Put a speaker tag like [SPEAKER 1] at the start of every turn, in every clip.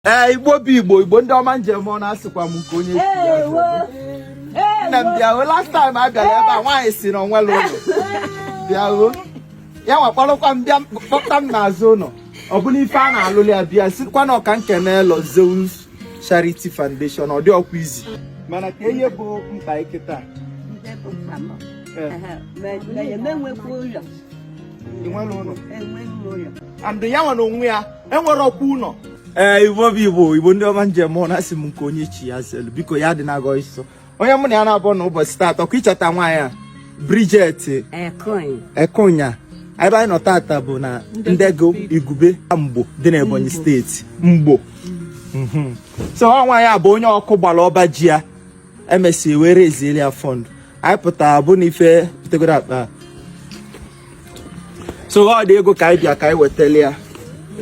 [SPEAKER 1] ee igbo bụ igbo igbo ndị ọma njem ọ na-asịkwa m nke onye nna m bịaruo last time a bịara ebe a nwaanyị si na o nwerọ ụlọ bịaruo ya wee kpọrọkwa m bịa kpọta m n'azụ ụlọ ọ bụrụ ife a na-alụli ya bịa sikwa na ọ ka m kenelụ Zeus Charity Foundation ọ dịrọkwa easy mana ka ihe bụ mkpa kịtaa enweghị ụlọ and ya nwere onwe ya enwerọkwa ụlọ ee eh, igbo bụ igbo igbo ndị ọma njem ọ na-asị m nke onye chi ya zelu biko ya adịna agọ so onye mụ na ya na-abụ na ụbọchị taata ọkwa ịchọta nwaanyị a Bridget Ekonya ebe anyị nọ taata bụ na Ndiegu Igube Mgbo dị na Ebonyi steeti Mgbo mhm. so nwaanyị a bụ onye ọkụ gbara ọba ji ya emesịa e were ezieli ya fund anyị pụtara bụ na ife tegoro aka so o tego ka anyị bịa ka anyị wetali ya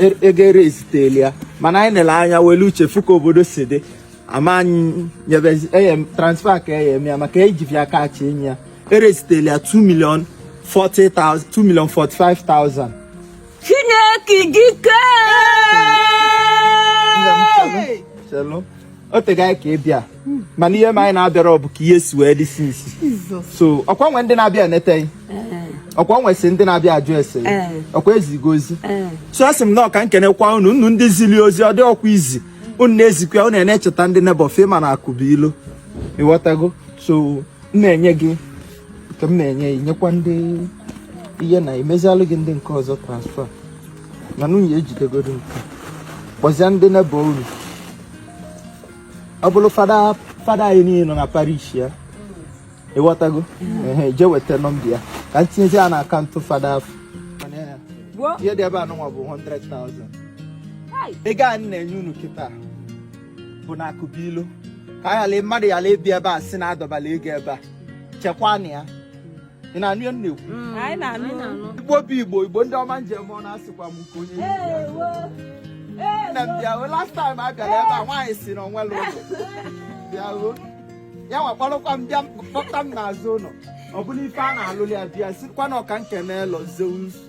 [SPEAKER 1] e, ego ere eziteli ya mana anyị nele anya welu uche fụ ka obodo si dị ama anyị nyebe eye transfer ka eye m ya maka eji bịa cash enye ya ere eziteli ya 2 million 40,000 2 million
[SPEAKER 2] 45,000 Chineke dike!
[SPEAKER 1] Chelụ. o tego anyị ka ị bịa mana ihe mere anyị na abịarọ bụ ka ihe si wee dị since so ọkwa nwe ndị na-abịa eneta gị ọkwa nwesị ndị na-abịa ajụ ese ọkwa ezigo ozi so asị m na ọ ka m kenekwa unu unu ndị zili ozi ọ dịrọkwa easy unu na-ezikwa unu na-echeta ndị neighbour fa ma na akụ bụ ilo ịghọtago so m na-enye gị ka m na-enye ya nyekwa ndị ihe na emezialụ gị ndị nke ọzọ transfer na nwunye jidegodu nke a kpọzie ndị neighbour unu ọ bụrụ fada fada anyị niile nọ na parish ya ịghọtago ehe je weta nọmba ya ka m tinyezi ya na akaụntụ fada afụ Gbuo. ihe dị ebe a nụnwa bụ 100,000 Hai. ego a m na-enye unu kịta bụ na akụ bụ ilo ka a ghara mmadụ ghara ịbịa ebe a si na a dọbala ego ebe a chekwanụ ya ị na-anụ ihe a na-ekwu mm. anyị na-anụ igbo bụ igbo igbo ndị ọma njem ọ na-asịkwa m nke onye nna m bịaruo last time a bịara ebe a nwaanyị si na o nwerọ ụlọ bịaruo ya wee kpọrọkwa m bịa kpọta m n'azụ ụlọ ọ bụrụ ife a na-alụli ya bịa sikwa na ọ ka m kenelụ Zeus